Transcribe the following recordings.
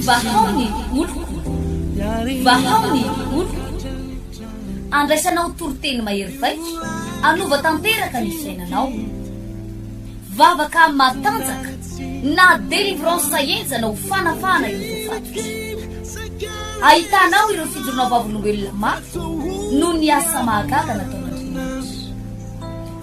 Vahao ny oloko, vahao ny oloko, andraisanao toriteny mahery vaika, anova tanteraka ny fiainanao. Vavaka matanjaka na délivrance henjana ho fanafahana ireo voafatotry. Ahitanao ireo fijoroana vavolombelona mafy noho ny asa mahagaga nataon'Andriamanitra.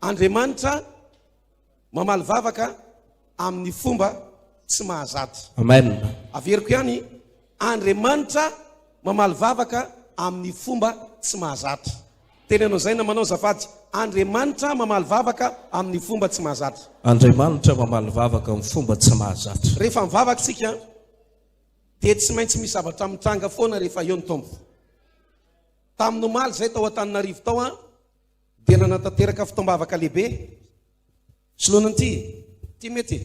Andriamanitra mamaly vavaka amin'ny fomba tsy mahazatra. Amen. Averiko ihany, Andriamanitra mamaly vavaka amin'ny fomba tsy mahazatra. Teneno izay namanao azafady. Andriamanitra mamaly vavaka amin'ny fomba tsy mahazatra. Andriamanitra mamaly vavaka amin'ny fomba tsy mahazatra. Rehefa mivavaka isika dia tsy maintsy misy zavatra mitranga foana rehefa eo ny Tompo. Tamin'ny omaly izay tao Antananarivo tao aho dia nanatanteraka fotoam-bavaka lehibe. Soloana an'ity, ity mety e.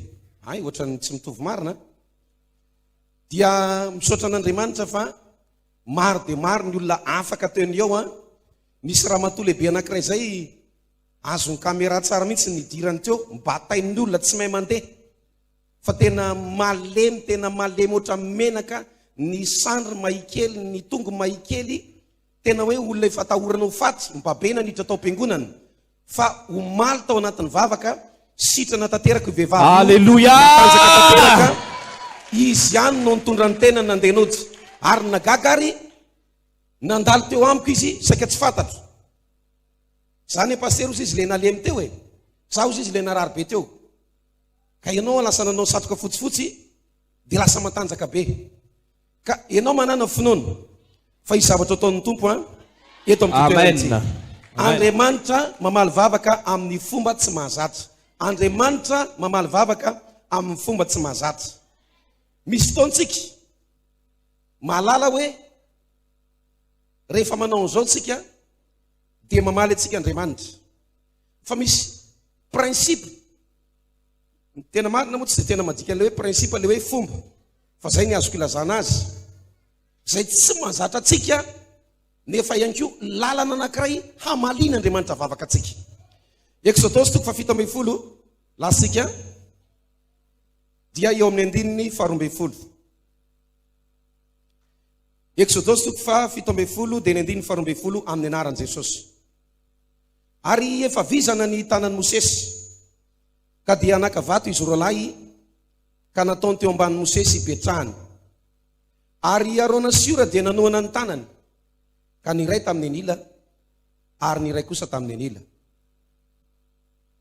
Ay, ohatran'ny tsy mitovy marina. Dia misaotra an'Andriamanitra fa maro dia maro ny olona afaka teo ny eo. Nisy ramatoa lehibe anankiray izay azon'ny caméra tsara mihitsy ny hidirany teo, batain'ny olona tsy mahay mandeha. Fa tena malemy tena malemy ohatra menaka ny sandry mahikely ny tongo mahikely tena hoe olona efa atahorana ho faty mpabe naniditra tao am-piangonana fa omaly tao anatin'ny vavaka sitrana tanteraka io vehivavy Alléluia! matanjaka tanteraka izy ihany no nitondra ny tenany nandeha nody ary ny nagaga ary nandalo teo amiko izy saika tsy fantatro za ne pasitera ozy izy le nalemy teo e za ozy izy le narary be teo Ka ianao lasa nanao satroka fotsifotsy dia lasa matanjaka be. Ka ianao manana finoana fa hisy zavatra ataon'ny Tompo an eto amin'ny toerantsika. Andriamanitra mamaly vavaka amin'ny fomba tsy mahazatra. Andriamanitra mamaly vavaka amin'ny fomba tsy mahazatra. Misy fotoantsika mahalala hoe rehefa manao an'izao tsika dia mamaly antsika Andriamanitra. fa misy principe ny tena marina moa tsy dia tena madika an'ilay hoe principe ilay hoe fomba fa izay ny azoko ilazana azy izay tsy mahazatra antsika nefa ihany koa lalana anankiray hamaliana andriamanitra vavaka antsika exodosy toko fa fito ambin'ny folo lasika dia eo amin'ny andininy faharoambin'ny folo exodosy toko fa fito ambin'ny folo dia ny andininy faharoambin'ny folo amin'ny anaran'i jesosy Ary efa vizana ny tanan'i Mosesy, ka dia naka vato izy roalahy, ka nataony teo ambanin'i Mosesy hipetrahany. Ary i Arona sy Hora dia nanohana ny tanany, ka ny iray tamin'ny anila, ary ny iray kosa tamin'ny anila.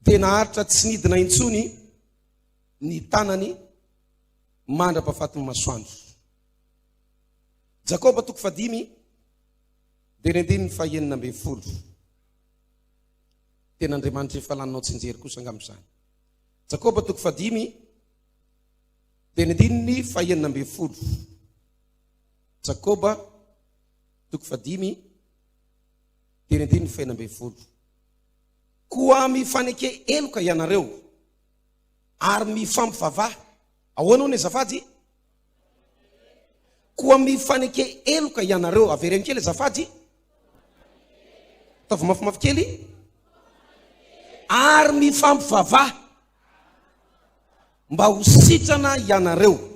Dia naharitra tsy nidina intsony ny tanany mandra-pahafatin'ny masoandro. Jakoba toko fahadimy. Andinindinin'ny fahenina ambin'ny folo, Tena Andriamanitra efa laninao tsinjery kosa angamba izany. Jakoba toko fahadimy, andinindinin'ny fahenina ambin'ny folo. Jakoba toko fahadimy, andinindinin'ny fahenina ambin'ny folo. Koa mifaneke heloka ianareo ary mifampivavaha. Ahoana hono ny azafady? Koa mifaneke heloka ianareo. Avereno kely azafady. Ataovy mafimafy kely. Ary mifampivavaha. Mba ho sitrana ianareo.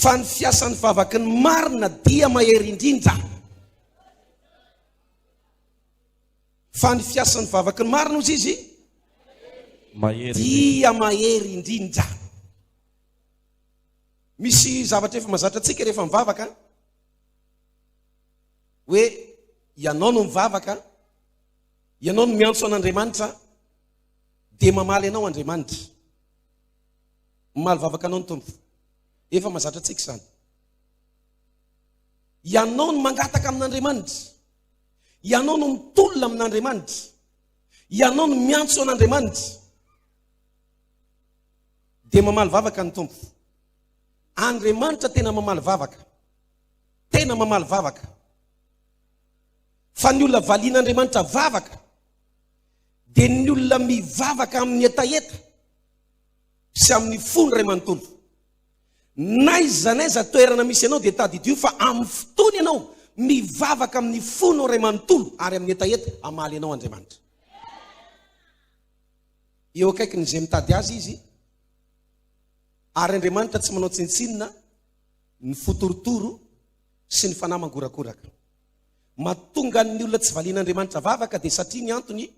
Fa ny fiasan'ny vavaky ny marina dia mahery indrindra. Fa ny fiasan'ny vavaky ny marina ozy izy. Mahery. Dia mahery indrindra. Misy zavatra efa mazatra antsika rehefa mivavaka hoe ianao no mivavaka, ianao no miantso an'Andriamanitra dia mamaly anao Andriamanitra. Mamaly vavaka anao ny Tompo. Efa mazatra antsika izany. Ianao no mangataka amin'Andriamanitra. Ianao no mitolona amin'Andriamanitra. Ianao no miantso an'Andriamanitra. Dia mamaly vavaka ny Tompo. Andriamanitra tena mamaly vavaka. Tena mamaly vavaka. Fa ny olona valian'Andriamanitra vavaka dia ny olona mivavaka amin'ny hetaheta sy amin'ny fony iray manontolo. N'aiza n'aiza toerana misy anao dia tadidio fa amin'ny fotoana ianao mivavaka amin'ny fony iray manontolo ary amin'ny hetaheta hamaly anao Andriamanitra. eo akaikin'izay mitady azy izy, ary Andriamanitra tsy manao tsintsinona ny fo torotoro sy ny fanahy mangorakoraka. Mahatonga ny olona tsy valian'Andriamanitra vavaka dia satria ny antony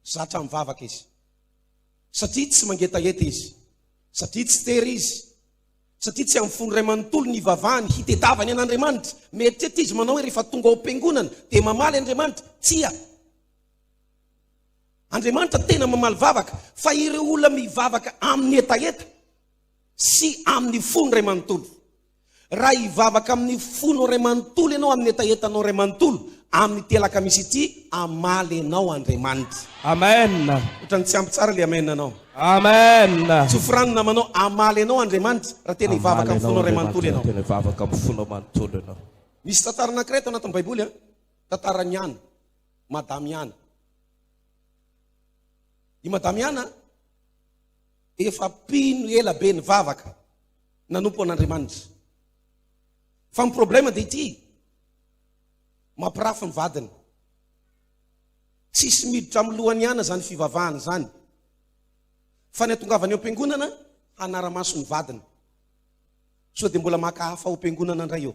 zatra mivavaka izy. Satria tsy mangetaheta izy, satria tsy tery izy, satria tsy amin'ny fony iray manontolo ny ivavahany hitedavany an'Andriamanitra. Mieritreritra izy manao hoe rehefa tonga ao am-piangonana dia mamaly Andriamanitra, tsia, Andriamanitra tena mamaly vavaka fa ireo olona mivavaka amin'ny hetaheta sy amin'ny fony iray manontolo. Raha hivavaka amin'ny fonao iray manontolo ianao amin'ny hetahetanao iray manontolo amin'ity alakamisy ity, hamaly anao Andriamanitra. Amen. Otrany tsy ampy tsara le amen anao. Amen. Tsofira ny namanao, hamaly anao Andriamanitra raha tena hivavaka amin'ny fonao iray manontolo ianao. Hamaly anao Andriamanitra raha tena hivavaka amin'ny fonao manontolo ianao. Misy tantara anankiray ato anatin'ny baiboly an, tantaran'i Hana. Madamiana. I Madamiana efa mpino ela be nivavaka, nanompo an'Andriamanitra. Fa ny problème dia ity, mampirafy ny vadiny. Tsisy miditra amin'ny lohany ihany izany fivavahana izany. Fa ny atongavany ao am-piangonana, hanara-maso ny vadiny. Sao dia mbola maka hafa ao am-piangonana indray eo.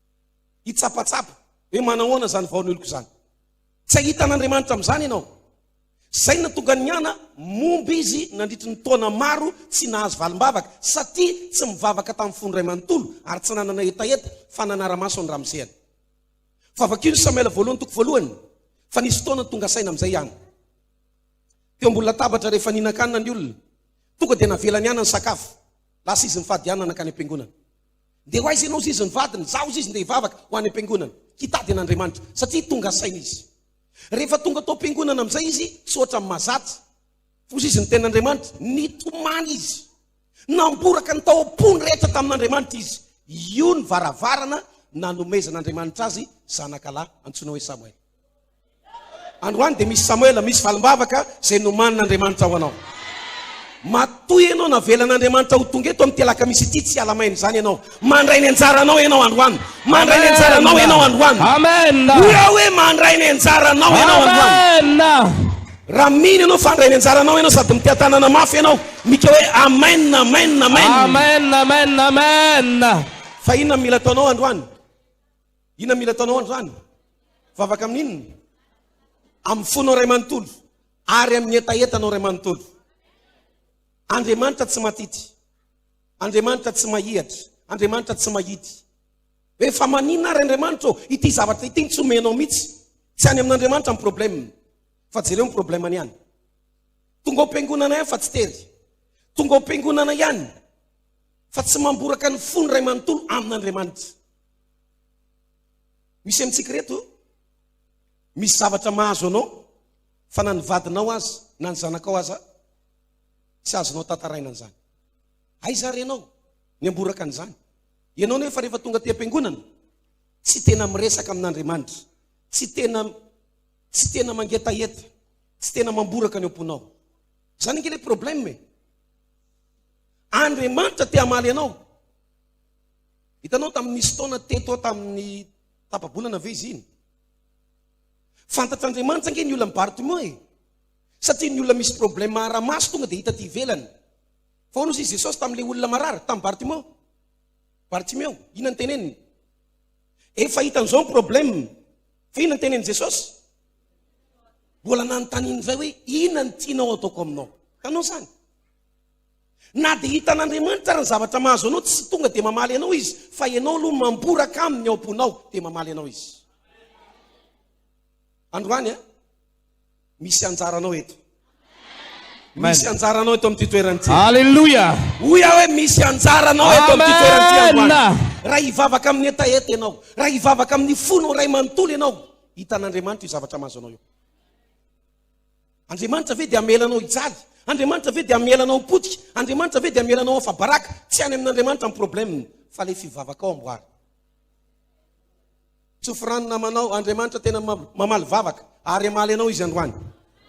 hitsapatsapa hoe manahoana izany vaon'oloko izany. Tsy hahita an'Andriamanitra amin'izany ianao. Izay no nahatonga ny ana momba izy nandritry ny taona maro tsy nahazo valim-bavaka satria tsy mivavaka tamin'ny fony iray manontolo ary tsy nanana hetaheta fa nanara-maso ny ramosehany. Fa vakio ny Samoela voalohany toko voalohany fa nisy fotoana tonga saina amin'izay ana. Teo ambony latabatra rehefa nihinan-kanina ny olona, tonga dia navelany ana ny sakafo. Lasa izy nifady ana nankany am-piangonana. Ndeha ho aiza ianao hoy izy ny vadiny? Izaho hoy izy ndeha hivavaka ho any am-piangonana, hitady an'Andriamanitra, satria tonga saina izy. Rehefa tonga tao am-piangonana amin'izay izy, tsy ohatran'ny mahazatra. Hoy izy ny tenin'Andriamanitra, nitomany izy. Namboraka ny tao am-pony rehetra tamin'Andriamanitra izy. Io ny varavarana nanomezan'Andriamanitra azy zanakalahy antsoina hoe Samoela. Androany dia misy Samoela, misy valim-bavaka izay nomanin'Andriamanitra ho anao. Matoa ianao navelan'Andriamanitra ho tonga eto amin'ny telakamisy ity, tsy hiala maina izany ianao. Mandray ny anjaranao ianao androany. Mandray ny anjaranao ianao androany. Amen. Hoy hoe mandray ny anjaranao ianao androany. Amen. Raha mino ianao fa handray ny anjaranao ianao sady mitia tanana mafy ianao, mika hoe amen, amen, amen. Amen, amen, amen. Fa inona no mila ataonao androany? Inona mila ataonao androany? Vavaka amin'inona? Amin'ny fonao iray manontolo ary amin'ny hetahetanao iray manontolo. Andriamanitra tsy matity. Andriamanitra tsy mahihatra. Andriamanitra tsy mahidy. Hoe fa manina ary Andriamanitra ô, ity zavatra ity tsy omenao mihitsy. Tsy any amin'Andriamanitra ny problème. Fa jereo ny problème any ihany. Tonga ao am-piangonana ihany fa tsy tery. Tonga ao am-piangonana ihany fa tsy mamboraka ny fony iray manontolo amin'Andriamanitra. Misy amintsika reto, misy zavatra mahazo anao, fa na ny vadinao aza, na ny zanakao aza, tsy azonao tantaraina an'izany. Aiza ary ianao? Ny amboraka an'izany. Ianao nefa rehefa tonga aty am-piangonana, tsy tena miresaka amin'Andriamanitra, tsy tena tsy tena mangetaheta, tsy tena mamboraka ny am-ponao. Izany ange ilay problème e. Andriamanitra te hamaly anao. Hitanao tamin'ny nisy taona teto aho tamin'ny tapa-bolana ve izy iny? Fantatr'Andriamanitra ange ny olan'i Bartimeo e! Satria ny olona misy problème ara-maso tonga dia hita aty ivelany. Fa hono hozy i Jesosy tamin'ilay olona marary, tamin'i Bartimeo? Bartimeo, inona no teneniny? Efa hita an'izao ny problème. Fa inona no tenenin'i Jesosy? Mbola nanontaniany indray hoe, inona no tianao ataoko aminao? Hitanao izany? Na dia hitan'Andriamanitra ary ny zavatra mahazo anao, tsy tonga dia mamaly anao Izy, fa ianao aloha mamboraka Aminy ao am-ponao, dia mamaly anao Izy. Androany a, misy anjaranao eto. Misy anjaranao eto amin'ity toerana ity. Alléluia. Hoy aho hoe misy anjaranao eto amin'ity toerana ity androany. Raha hivavaka amin'ny hetaheta ianao, raha hivavaka amin'ny fonao iray manontolo ianao, hitan'Andriamanitra io zavatra mahazo anao io. Andriamanitra ve dia hamela anao hijaly? Andriamanitra ve dia hamela anao hipotika? Andriamanitra ve dia hamela anao hafa-baraka? Tsy any amin'Andriamanitra ny problème, fa ilay fivavakao amboary. Tsofy rano namanao, Andriamanitra tena mamaly vavaka ary hamaly anao Izy androany.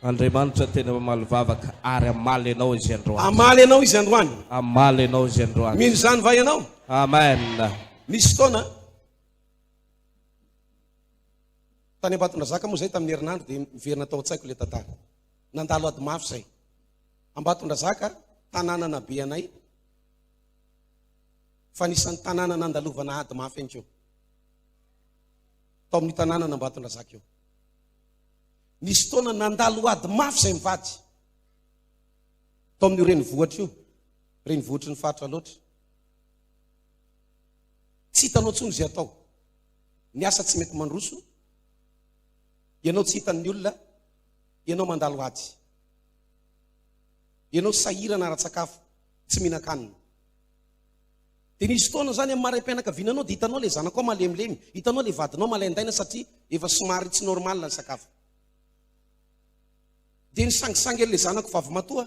Andriamanitra tena mamaly vavaka ary hamaly anao Izy androany. Hamaly anao Izy androany. Hamaly anao Izy androany. Mino izany va ianao? Amen. Misy fotoana Tany Ambatondrazaka moa izay tamin'ny herinandro dia miverina tao an-tsaiko ilay tantara. Nandalo ady mafy izay. Ambatondrazaka, tanànana be anay, fa anisan'ny tanàna nandalovana ady mafy ihany koa. Tao amin'ny tanànana Ambatondrazaka io. Nisy taona nandalo ady mafy izay mivady. Tao amin'io renivohitra io, renivohitry ny faritra loatra. Tsy hitanao intsony izay atao. Ny asa tsy mety mandroso, ianao tsy hitan'ny olona, ianao mandalo ady, ianao sahirana ara-tsakafo, tsy mihinan-kanina. Dia nisy fotoana izany amin'ny maraim-pianakaviana anao dia hitanao ilay zanakao malemilemy, hitanao ilay vadinao malaindaina satria efa somary tsy normal ny sakafo. Dia nisangisangy an'ilay zanako vavy matoa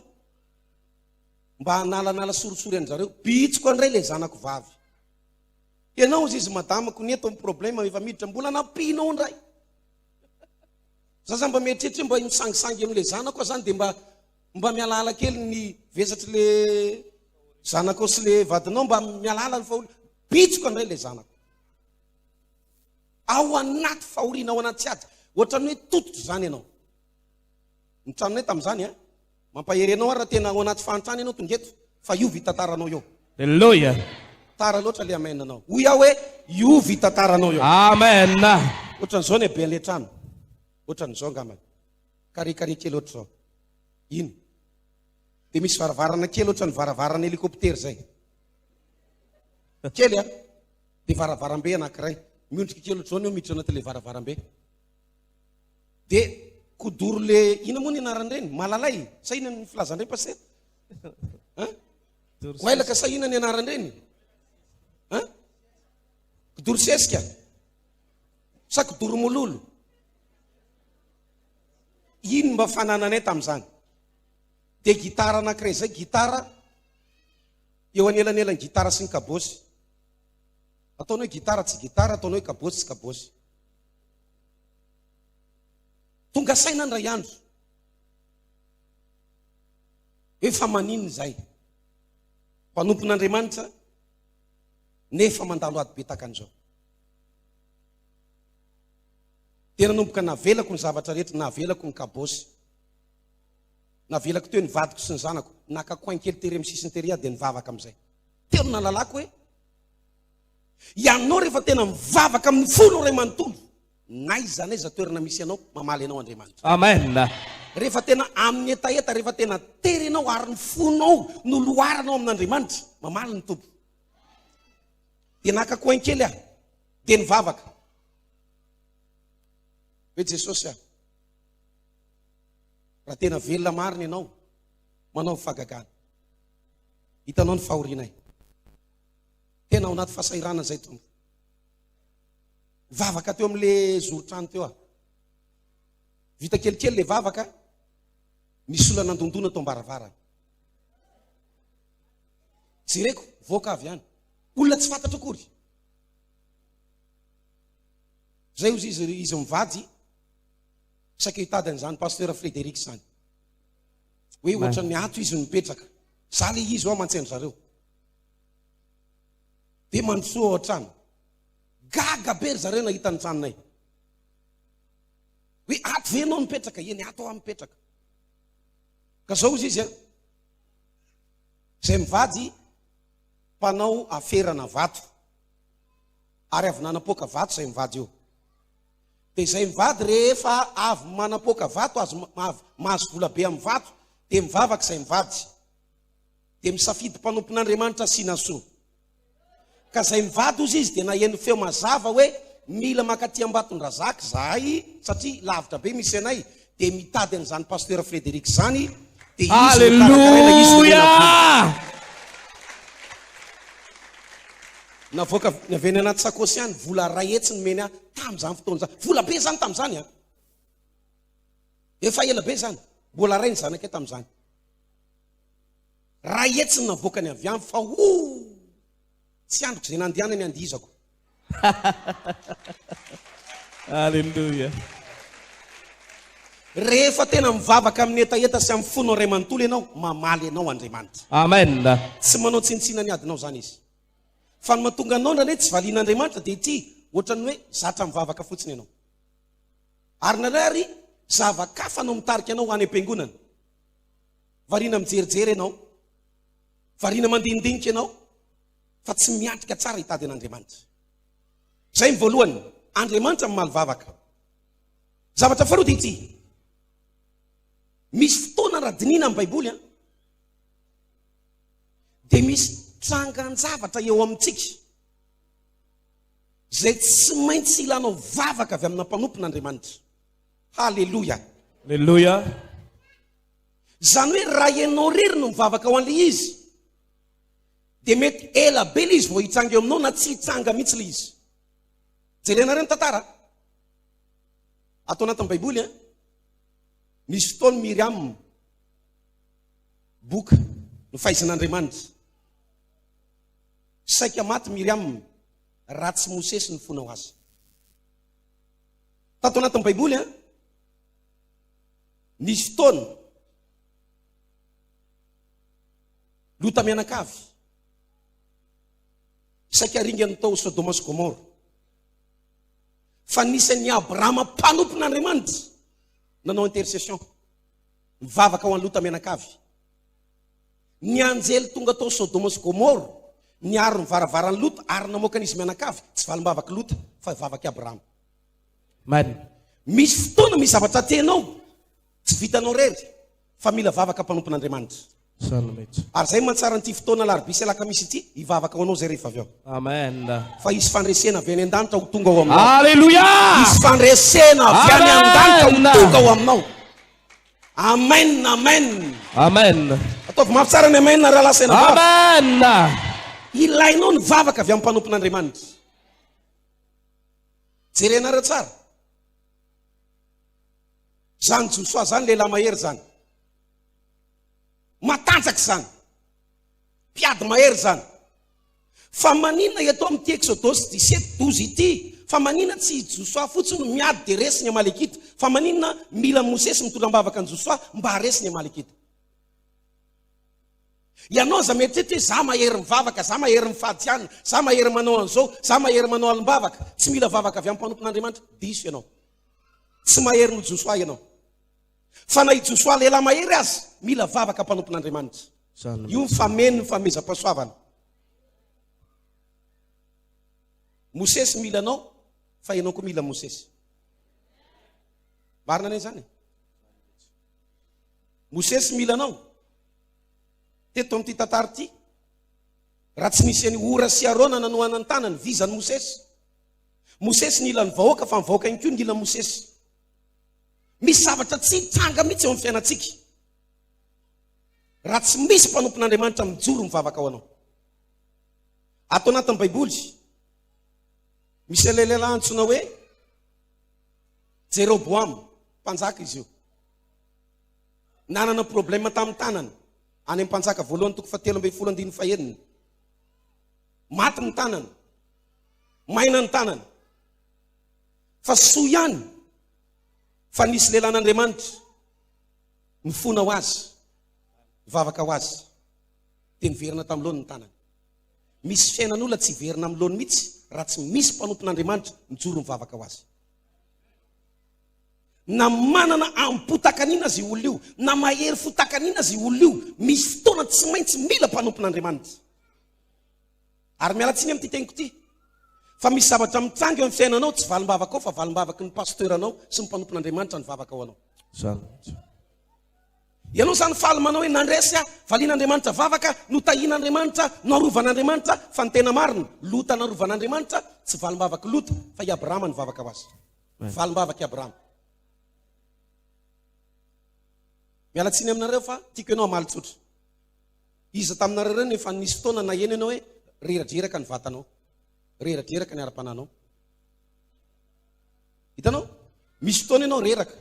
mba hanalanala sorisory an-dry zareo. Bitsiko indray ilay zanako vavy. Ianao hozy izy madame ko ny eto ny problème efa miditra mbola nampianao indray. Za zany mba mieritreritra hoe mba misangisangy amin'ilay zanako aho zany dia mba mba mihalala kely ny vesatr'le zanakao sy le vadinao mba mihalala ny fahoriana. Bitsiko indray ilay zanako. Ao anaty fahoriana, ao anaty ady. Ohatran'ny hoe tototra izany ianao. Ny tranonay tamin'izany a, Mampahery anao aho raha tena ao anaty fahantrana ianao tonga eto fa hiova io tantaranao io. Elloia. Tara loatra le amen nao. Hoy aho hoe hiova io tantaranao io. Amen. Ohatran'izao ny haben'ilay trano. Ohatran'izao angambany. Carré carré kely ohatr'izao. Iny. Dia misy varavarana kely ohatran'ny varavarana hélicoptère izay. Kely a. Dia varavarambe anankiray. Miondrika kely ohatr'izao ny eo miditra anatin'ilay varavarambe. Dia kodoro le ina moa ny anaran'ireny? Malalay sa ina ny filazan'ireny pasteur? Hein? Goailaka sa ina ny anaran'ireny? Hein? Kodoro sesika? Sa kodoro mololo? Ino mba fanananay tamin'izany? Dia gitara anankiray izay, gitara eo anelanelan'ny gitara sy ny kabosy. Ataonao hoe gitara tsy gitara, ataonao hoe kabosy tsy kabosy. Tonga saina indray andro hoe fa maninona izahay mpanompon'Andriamanitra nefa mandalo ady be tahaka an'izao. Dia nanomboka navelako ny zavatra rehetra, navelako ny kabôsy, navelako teo ny vadiko sy ny zanako, naka coin kely tery amin'ny sisiny tery aho dia nivavaka amin'izay. Teo no nahalalako hoe Ianao rehefa tena mivavaka amin'ny fonao iray manontolo, n'aiza n'aiza toerana misy anao, mamaly anao Andriamanitra. Amen. Rehefa tena amin'ny hetaheta, rehefa tena tery ianao ary ny fonao no loharanao amin'Andriamanitra, mamaly ny Tompo. Dia naka coin kely aho, dia nivavaka. Hoe Jesosy a, raha tena velona marina ianao, manaovy fahagagana. Hitanao ny fahorianay. Tena ao anaty fahasahiranana izay tompoko. Vavaka teo amin'le zoron-trano teo aho. Vita kelikely le vavaka, nisy olona nandondona tao ambaravarana. Jereko, voaka avy any. Olona tsy fantatra akory. Zay ozy izy, izy mivady, saika hitady an'izany pasteur Frédéric izany. Hoe ohatran'ny ato izy no mipetraka. Za le izy ao aman-tsean-dry zareo. Dia mandrosoa ao an-trano. Gaga be ry zareo nahita ny tranonay. Hoe ato ve ianao mipetraka? Eny, ato aho mipetraka. Ka zao izy izy, izay mivady mpanao aferana vato ary avy nanapoaka vato izay mivady io. Dia izay mivady rehefa avy manapoaka vato, avy mahazo vola be amin'ny vato, dia mivavaka izay mivady. Dia misafidy mpanompon'Andriamanitra asiana soa. Ka izay mivady hozy izy dia naheno feo mazava hoe mila makaty Ambatondrazaka izahay satria lavitra be misy anay. Dia mitady an'izany Pasteur Frederic izany dia izy no karakaraina izy no omena vola. Navoaka avy any anaty sakosy ihany vola iray hetsy nomeny ahy tamin'izany fotoana izany. Vola be izany tamin'izany an. Efa ela be izany. Mbola iray ny zanakay tamin'izany. Raha hetsiny navoakany avy any fa ooh! Tsy andriko izay nandehanany andihizako. Alléluia. Rehefa tena mivavaka amin'ny hetaheta sy amin'ny fonao iray manontolo ianao, mamaly anao Andriamanitra. Amen. Tsy manao tsinontsina ny adinao izany Izy. Fa ny mahatonga anao indraindray tsy valian'Andriamanitra dia ity, ohatran'ny hoe zatra mivavaka fotsiny ianao. Ary indraindray ary zava-kafa no mitarika anao ho any am-piangonana. Variana mijerijery ianao, variana mandinidinika ianao fa tsy miatrika tsara hitady an'Andriamanitra. Izay ny voalohany, Andriamanitra mamaly vavaka. Zavatra faharoa dia ity, misy fotoana raha dinihina amin'ny Baiboly, dia misy trangan-javatra eo amintsika izay tsy maintsy ilanao vavaka avy amina mpanompon' Andriamanitra. Haleloia! Haleloia! Izany hoe raha ianao irery no mivavaka ho an'ilay izy, dia mety ela be ilay izy vao hitsanga eo aminao na tsy hitsanga mihitsy ilay izy. Jerenareo ny tantara. Ato anatin'ny Baiboly, eh? nisy fotoana Miriam, boka ny fahaizin'Andriamanitra. Saika maty Miriam, raha tsy Mosesy ny fonao azy. Tato anatin'ny Baiboly, eh? Nisy fotoana, Lota mianakavy, saika ringany tao Sodoma sy Gomora. Fa nisy an'i Abrahama mpanompon'Andriamanitra nanao intercession. Mivavaka ho an'i Lota mianakavy. Ny anjely tonga tao Sodoma sy Gomora, niaro ny varavaran'i Lota ary namoaka an'izy mianakavy, tsy valim-bavak'i Lota fa vavak'i Abrahama. Marina. Misy fotoana misy zavatra tenao tsy vitanao irery fa mila vavaka mpanompon'Andriamanitra. Salmet. Ary izay mantsara an'ity fotoana alarobia sy alakamisy ity, hivavaka ho anao izay rehefa avy ao. Amen. Fa hisy fandresena avy any an-danitra ho tonga ao aminao. Aleloia! Hisy fandresena avy any Amen. an-danitra ho tonga ao aminao. Amen, amen. Amen. Ataovy mafy tsara ny amen raha lasa ena vavaka. Amen. Ilainao ny vavaka avy amin'ny mpanompon'Andriamanitra. Jerenareo tsara. Zany Josoa zany lehilahy mahery zany. Matanjaka zany. Mpiady mahery zany. Fa manina eto amin'ity Exodus 17, 12 ity, fa manina tsy i Josoa fotsiny no miady dia resy ny Amalekita, fa manina mila Mosesy mitondra am-bavaka an'i Josoa mba haharesy ny Amalekita. Ianao izay mieritreritra hoe za mahery mivavaka, za mahery mifady hianina, za mahery manao an'izao, za mahery manao alim-bavaka, tsy mila vavaka avy amin'ny mpanompon'Andriamanitra, diso ianao. Tsy mahery noho Josoa ianao. Fa na i Josoa lehilahy mahery aza, mila vavaka mpanompon'Andriamanitra. Io ny fameno ny famezam-pahasoavana. Mosesy mila anao, fa ianao koa mila Mosesy. Marina anie izany e. Mosesy mila anao. Teto amin'ity tantara ity, raha tsy nisy an'i Hora sy Arona nanohana ny tanany, vizan'i Mosesy. Mosesy nila ny vahoaka fa ny vahoaka ihany koa nila an'i Mosesy. Misy zavatra tsy hitranga mihitsy eo amin'ny fiainantsika. Raha tsy misy mpanompon'Andriamanitra mijoro mivavaka ho anao. Ato anatin'ny Baiboly, misy lehilahy antsoina hoe Jeroboama, mpanjaka izy io. Nanana problema tamin'ny tanany, any amin'ny mpanjaka voalohany toko fahatelo ambin'ny folo andininy fahenina. Maty ny tanany, maina ny tanany. Fa soa ihany fa nisy lehilahin'Andriamanitra nifona ho azy, nivavaka ho azy, dia niverina tamin'ny loany ny tanany. Misy fiainan'olona tsy hiverina amin'ny loany mihitsy raha tsy misy mpanompon'Andriamanitra mijoro mivavaka ho azy. Na manana amim-potakanina aza io olona io, na mahery fotakanina aza io olona io, misy fotoana tsy maintsy mila mpanompon'Andriamanitra. Ary miala tsiny amin'ity teniko ity, fa misy zavatra mitranga eo amin'ny fiainanao, tsy valim-bavakao fa valim-bavaky ny pasteur-nao sy ny mpanompon'Andriamanitra ny vavaka ho anao. Zany mihitsy. Ianao izany faly manao hoe nandresy aho, valian'Andriamanitra vavaka, notahian'Andriamanitra, noarovan'Andriamanitra, fa ny tena marina, Lota narovan'Andriamanitra, tsy valim-bavak'i Lota, fa i Abrahama nivavaka ho azy. Valim-bavak'i Abrahama. Miala tsiny aminareo fa tiako ianao hamaly tsotra. Iza taminareo ireo no efa nisy fotoana naheno ianao hoe reradreraka ny vatanao, reradreraka ny ara-panahinao? Hitanao? Misy fotoana ianao reraka,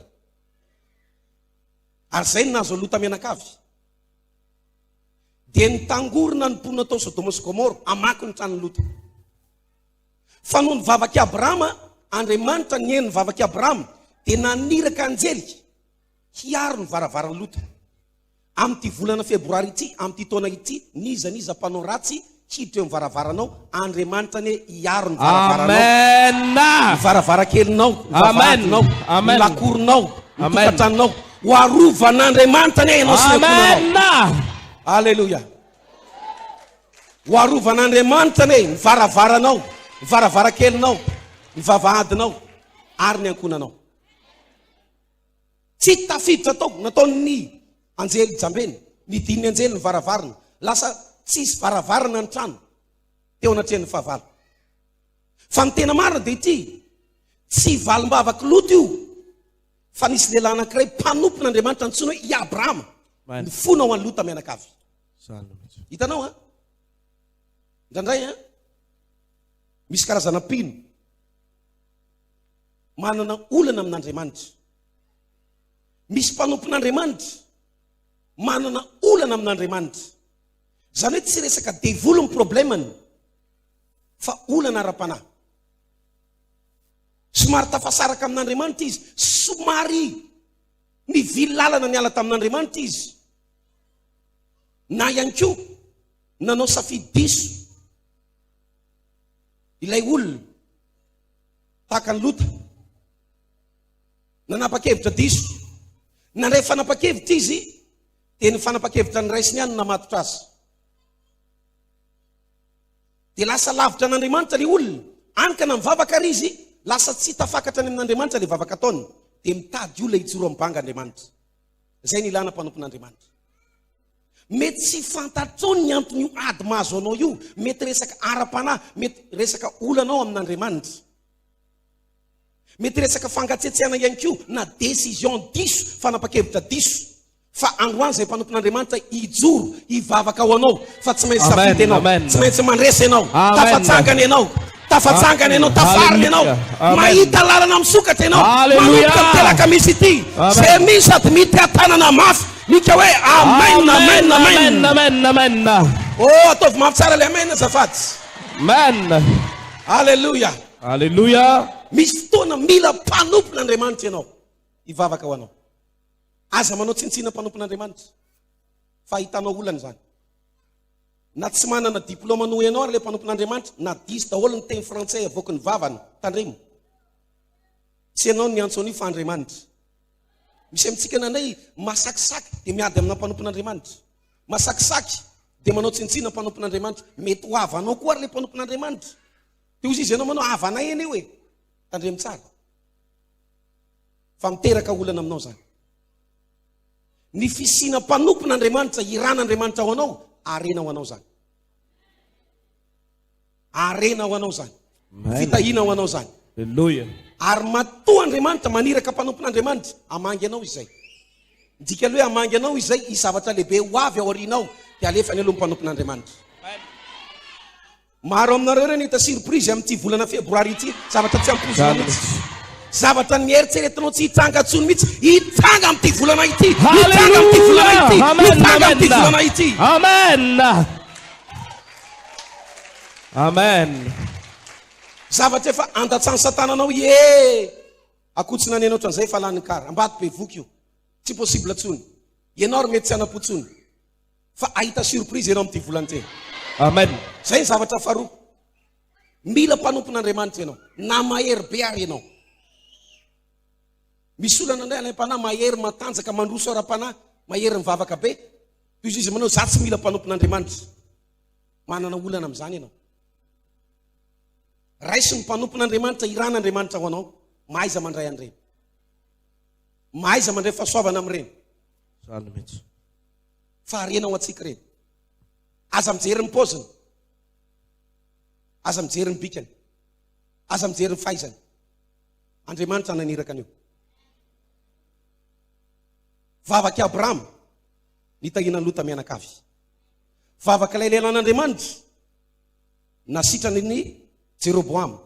Ary izay no nahazo an'i Lota mianakavy. Dia nitangorona ny mponina tao Sodoma sy Gomora hamaky ny tranon'i Lota. Fa noho ny vavak'i Abrahama, Andriamanitra nihaino ny vavak'i Abrahama, dia naniraka anjely hiaro ny varavaran'i Lota. Amin'ity volana febroary ity, amin'ity taona ity, n'iza n'iza mpanao ratsy hiditra eo amin'ny varavaranao, Andriamanitra anie hiaro ny varavaranao, ny varavarankelinao, ny vavahadinao, ny lakoronao, ny tokantranonao. Ho arovan'Andriamanitra anie ianao sy ny ankohonanao. Aleloia. Ho arovan'Andriamanitra anie ny varavaranao, ny varavarankelinao, ny vavahadinao ary ny ankohonanao. Tsy tafiditra tao, nataon'ny anjely jambeny, nidin'ny anjely ny varavarana, lasa tsy hisy varavarana ny trano teo anatrehan'ny fahavalo. Fa ny tena marina dia ity, tsy valim-bavak'i Lota io, fa nisy lehilahy anankiray mpanompon'Andriamanitra nantsoina hoe i Abrahama, nifona ho an'i Lota mianakavy. Hitanao an? Indraindray an? Misy karazana mpino. manana olana amin'Andriamanitra. Misy mpanompon'Andriamanitra manana olana amin'Andriamanitra. Izany hoe tsy resaka devoly ny problemany fa olana ara-panahy. Somary tafasaraka amin'Andriamanitra izy, somary nivily lalana niala tamin'Andriamanitra izy. Na ihany koa nanao safidy diso. Ilay olona, tahaka an'i Lota, nanapa-kevitra diso. Nandray fanapa-kevitra izy, dia ny fanapa-kevitra niraisiny ihany no namatotra azy. Dia lasa lavitra an'Andriamanitra ilay olona, any ka na mivavaka ary izy, lasa tsy tafakatra any amin'Andriamanitra ilay vavaka ataony, dia mitady olona hijoro amin'ny banga Andriamanitra. Izay ny ilana mpanompon'Andriamanitra. Mety tsy fantatrao ny anton'io ady mahazo anao io. Mety resaka ara-panahy, mety resaka olanao amin'Andriamanitra. Mety resaka fangatsiatsiahana ihany koa na décision diso, fanapa-kevitra diso. Fa androany izay mpanompon'Andriamanitra hijoro hivavaka ho anao fa tsy maintsy safidy ianao, tsy maintsy mandresy ianao, tafatsangana ianao. Tafatsangana ianao, tafarina ianao. Mahita lalana misokatra ianao. Manomboka ny telaka misy ity. Zay misy sady mity atanana mafy. Mika hoe amen, amen, amen. Amen, amen. Oh, ataovy mafy tsara le amen zafady. Amen. Alléluia. Alléluia. Misy fotoana mila mpanompon'Andriamanitra ianao. Hivavaka ho anao. Aza manao tsintsina mpanompon'Andriamanitra. Fa hitanao olana izany. Na tsy manana diplôma noho ianao ary ilay mpanompon'Andriamanitra na diso daholo ny teny frantsay avoaky ny vavany, tandremo. Tsy ianao no niantso an'io fa Andriamanitra. Misy amintsika nandray masakisaky dia miady amina mpanompon'Andriamanitra. Masakisaky dia manao tsintsina mpanompon'Andriamanitra. Mety ho havanao koa ary ilay mpanompon'Andriamanitra. Dia hoy izy ianao manao havanay anie hoe. Tandremo tsara. Fa miteraka olana aminao izany. Ny fisiana mpanompon' Andriamanitra, hiran' Andriamanitra ho anao, harena ho anao izany. Harena ho anao izany. Fitahiana ho anao izany. Aleloia. Ary matoa Andriamanitra maniraka mpanompon' Andriamanitra, hamangy anao Izy izay. Ny dikan'ilay hoe hamangy anao Izy izay, hisy zavatra lehibe ho avy ao aorianao, dia alefa any aloha ny mpanompon' Andriamanitra. Maro aminareo re no hita surprise amin'ity volana febroary ity, zavatra tsy ampoizinao mihitsy, zavatra nieritreretinao tsy hitranga intsony mihitsy, hitranga amin'ity volana ity, hitranga amin'ity volana ity, hitranga amin'ity volana ity. Amen. Amen. Zavatra efa andatsahan'i Satana anao, ie akoho tsy naneno ohatran'izay efa lany ny kara, ambady bevoka io, tsy possible intsony, ianao ary mety tsy hanam-po intsony. Fa ahita surprise ianao amin'ity volana ity e. Amen. Zay ny zavatra faharoa. Mila mpanompon'Andriamanitra ianao. Na mahery be ary ianao. Misy olona nandray alaim-panahy mahery matanjaka mandroso ara-panahy, mahery mivavaka be. Toy izay izy manao, za tsy mila mpanompon'Andriamanitra. Manana olana amin'izany ianao. Raiso ny mpanompon'Andriamanitra, iran'Andriamanitra ho anao. Mahaiza mandray an'ireny. Mahaiza mandray fahasoavana amin'ireny. Zany mihitsy. fa harena ho antsika ireny. Aza mijery ny paoziny, aza mijery ny bikany, aza mijery ny fahaizany. Andriamanitra naniraka an'io. Vavak'i Abrahama nitahiana ny Lota mianakavy. Vavak'ilay lehilahy an'Andriamanitra nasitrany ny Jeroboama.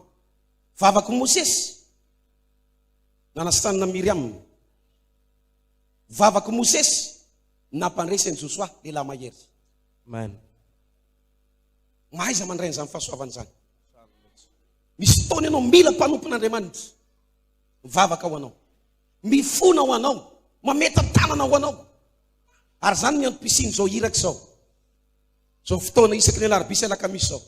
Vavak'i Mosesy nanasitrany na Miriam. Vavak'i Mosesy nampandresy an'i Josoa, lehilahy mahery. Amen. Mahaiza mandray an'izany fahasoavana izany. Misy fotoana ianao mila mpanompon'Andriamanitra mivavaka ho anao, mifona ho anao, mametan-tanana ho anao. Ary izany ny antom-pisian'izao iraka izao. Izao fotoana isaky ny alarobia sy alakamisy izao.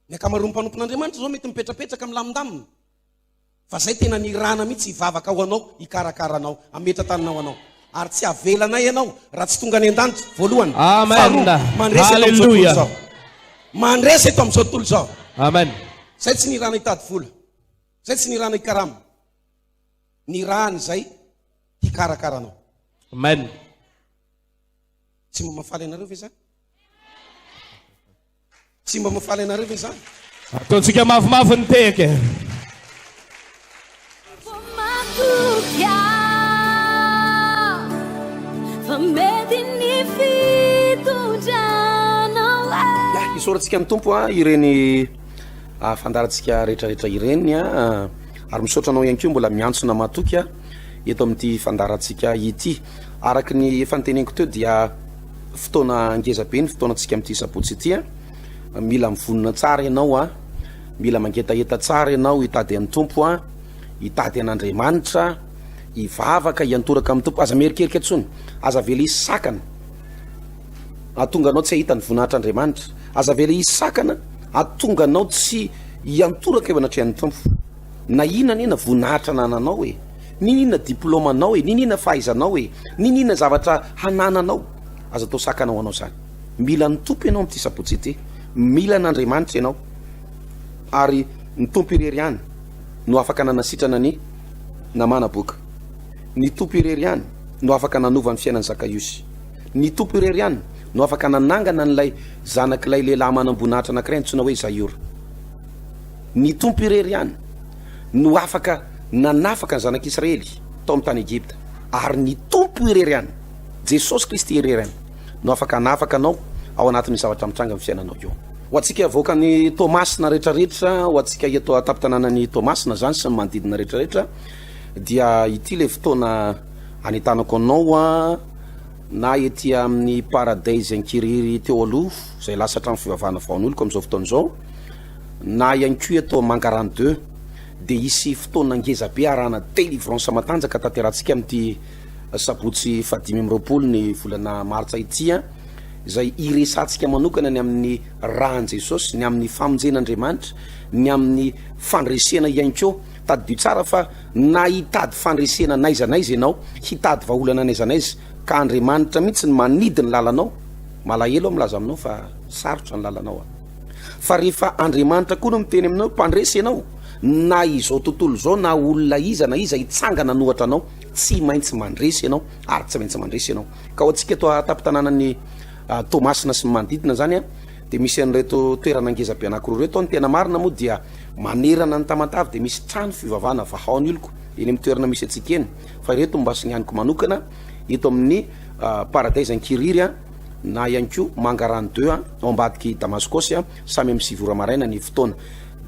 Ny ankamaroan'ny mpanompon'Andriamanitra izao mety mipetrapetraka milamindamina. Fa zay tena nirana mihitsy hivavaka ho anao hikarakara anao hametra-tanana ho anao ary tsy havelanay ianao raha tsy tonga any an-danitra voalohany faharoa mandresy eto amin'izao tontolo izao mandresy eto amin'izao tontolo izao amen zay tsy nirana hitady vola zay tsy nirana hikarama nirana izay hikarakara anao amen tsy mamafaly anareo ve zany Tsy mba mahafaly anareo ve izany? Ataontsika mavomavo ny tehaka e. Isaorantsika ny tompo a ireny ah, fandarantsika rehetrarehetra ireny a ah, ary misaotra anao ihany koa mbola miantsona matoky a ah, eto amin'ity fandarantsika ity araka ny efa nteneniko teo dia fotoana ngeza be ny fotoanantsika amin'ity sabotsy ity a. Mila mivonona tsara ianao a. Mila mangetaheta tsara ianao hitady an'ny Tompo a. Hitady an'Andriamanitra, hivavaka, hiantoraka amin'ny Tompo. Aza miherikerika intsony, aza avela hisy sakana hahatonga anao tsy hahita ny voninahitr'Andriamanitra. Aza avela hisy sakana hahatonga anao tsy hiantoraka eo anatrehan'ny Tompo. Nahina anie na voninahitra anananao e! Niniana diploma anao e! Niniana fahaizanao e! Niniana zavatra hanananao! Aza atao sakana ho anao zany! Mila ny Tompo ianao amin'ity sabotsy ity! Mila an'Andriamanitra ianao! Ary ny Tompo irery ihany no afaka nanasitrana ny namana boka! Ny Tompo irery ihany no afaka nanova ny fiainan'i Zakaiosy! Ny Tompo irery ihany no afaka nanangana an'ilay zanak'ilay lehilahy manam-boninahitra anankiray antsoina hoe Zaiora! Ny Tompo irery ihany no afaka nanafaka ny zanak'Israely tao amin'ny tany Egypta, ary ny Tompo irery ihany, Jesosy Kristy irery ihany no afaka hanafaka anao ao anatin'ny zavatra mitranga amin'ny fiainanao eo. Ho antsika avoakan'ny Toamasina rehetrarehetra, ho antsika eto an-tampon-tanànan'ny Toamasina izany sy ny manodidina rehetrarehetra, dia ity ilay fotoana anentanako anao na ety amin'ny Paradise Inkiriry teo aloha izay lasa trano fivavahana vaon'oloko amin'izao fotoana izao, Na ihany koa eto Mangarano deux dia hisy fotoana ngeza be arahana delivrance matanjaka tanterahantsika amin'ity sabotsy fahadimy amby roapolo ny volana martsa ity an! izay hiresahantsika manokana ny amin'ny ran'i Jesosy, ny amin'ny famonjena Andriamanitra, ny amin'ny fandresena ihany koa. Tadidio tsara fa na hitady fandresena n'aiza n'aiza ianao, hitady vahaolana n'aiza n'aiza ka Andriamanitra mihitsy no manidy ny lalanao, malahelo aho milaza aminao fa sarotra ny lalanao an! Fa rehefa Andriamanitra koa no miteny aminao hoe mpandresy ianao, na izao tontolo izao na olona iza na iza hitsangana an'ohatra anao, tsy maintsy mandresy ianao ary tsy maintsy mandresy ianao. Ka ho antsika eto an-tampon-tanànan'i Toamasina sy ny manodidina izany dia misy an'ireto toerana ngeza be anankiroa ireto ao. Ny tena marina moa dia manerana ny Tamatave dia misy trano fivavahana Vahaon'oloko eny amin'ny toerana misy antsika eny. Fa ireto no mba sinihaniko manokana eto amin'ny Paradise Ankiriry. na ihany koa Mangarano deux an, ao ambadik'i Damaskosy an, samy amin'ny sivy ora maraina ny fotoana.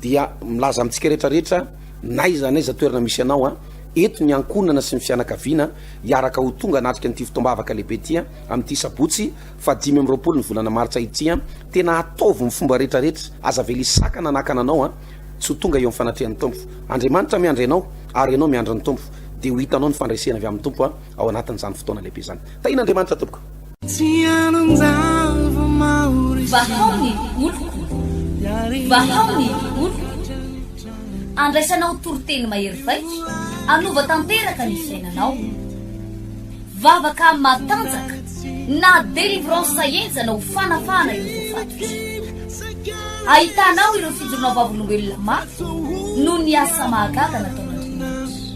Dia milaza amintsika rehetra rehetra n'aiza n'aiza toerana misy anao an, eto ny ankohonana sy ny fianakaviana hiaraka ho tonga hanatrika an'ity fotoam-bavaka lehibe ity an, amin'ity sabotsy faha dimy amby roapolo ny volana martsa ity an, tena ataovy ny fomba rehetra rehetra, aza avela hisakana na hakana anao an, tsy ho tonga eo amin'ny fanatrehan'ny Tompo. Andriamanitra miandry anao ary ianao miandry ny Tompo, dia ho hitanao ny fandresena avy amin'ny Tompo an, ao anatin'izany fotoana lehibe izany. Tahian'Andriamanitra tompoko. Vahao ny oloko, vahao ny oloko, andraisanao toriteny mahery vaika, anova tanteraka ny fiainanao. Vavaka matanjaka na délivrance henjana ho fanafahana ireo voafatotra. Ahitanao ireo fijoroana vavolombelona mafy noho ny asa mahagaga nataon'Andriamanitra.